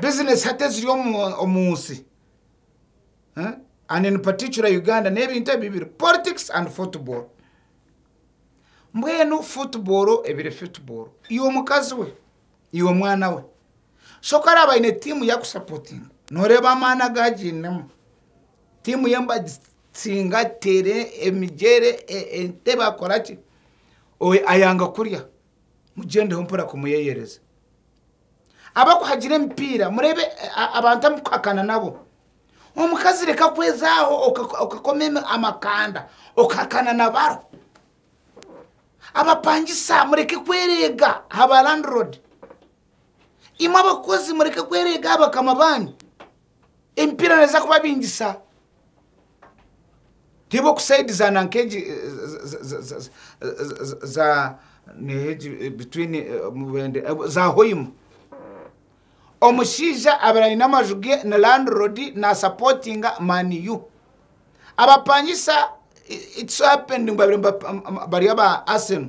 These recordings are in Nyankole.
bizinesi hati eziri omu nsi eh, and in particular uganda n'ebintu ebi biri politics and football mbwenu football ebiri football iwe omukazi we iwe omwana we shoka araba aine tiimu yakusapotinga noreeba amaani agagiinemu tiimu ye nibagitsinga tere emigyere e- entebe akoraki owe ayanga kurya mugyendeho mpora kumuyeyereza. Abakuhagira emipiira, murebe abantu amukuhakana nabo. Omukazi reka kwezaho okakoma amakanda okahakana nabaro. Abapangisa mureke kwerega ha ba landlord. Imwe abakozi mureke kwerega aha bakama banyu. Emipiira neza kubabingisa. Ti b'okusaidizana nk'egi za between Mubende, za Hoima. Omushaija abaire aine amaju ge ni landlord nasapotinga Man U. Abapangisa its happened ngu babaire bari aba Arsenal.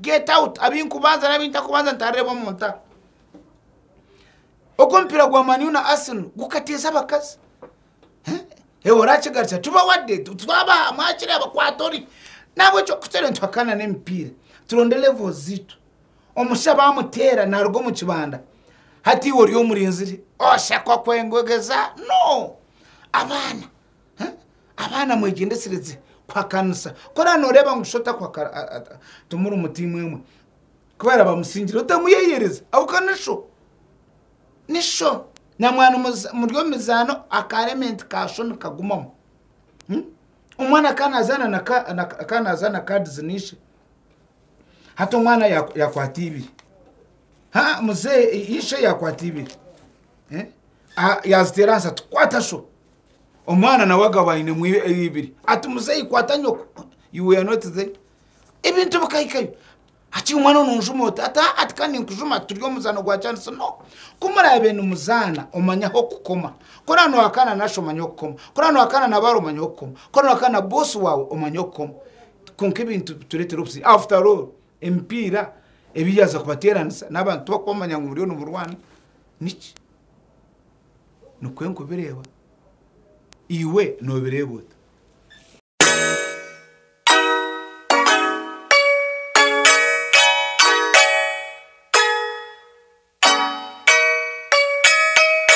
Get out abi nkubanza n'abi ntakubanza nitaareeba omu nta. Ogu omupiira gwa Man U na Arsenal gukateeza abakazi. Eh, Ewe oraakigarukira tuba wade tu- twabaha mwakire abakwata ori nahabwekyo kutere nituhakana n'emipiira turonde levels ziitu omusha baamuteera naaruga omu kibanda hati iwe ori omurinzire oshakwa kwengogeza no abaana Abaana mwegyendesereze kuhakanisa ku oraba nooreeba ngu shi timurimu tiimu emwe. Ku baaraba bamusingire otamuyeeyereza ahabw'okuba ni sho. Ni sho. Naamwana muri omu mizaano akaaremeenti ka sho nikagumamu. Omwana ka naazaana ka naazaana kaadizi na ishe, hati omwana yaakwata ibiri, haa muzeeyi, ishe yaakwata ibiri, yaaziteera ahansi ati, Kwata sho! Omwana nawe agaba ainemu eibiri. Ati, Muzeeyi kwata nyoko. You were not there. Ebintu bikahikayo. Ati, Omwana onu onjuma ota? Ati, Haa, tika ninkujuma, turi omu muzaano gwa kyansi. No. Ku muraabe nimuzaana, omanye ah'okukoma. Ku oraabe nohakaana na nasha, omanye ah'okukoma. Ku oraabe nohakaana na baara, omanye ah'okukoma. Ku oraabe nohakaana na boosi waawe, omanye ah'okukoma. Kwonka ebintu bitureetera obuzibu. After all, emipiira ebi yaaza kubateeranisa n'abantu tibakuba bamanya ngu muriyo nimurwana. Niki? Nikwo nkubireeba. Iwe noobireeba ota?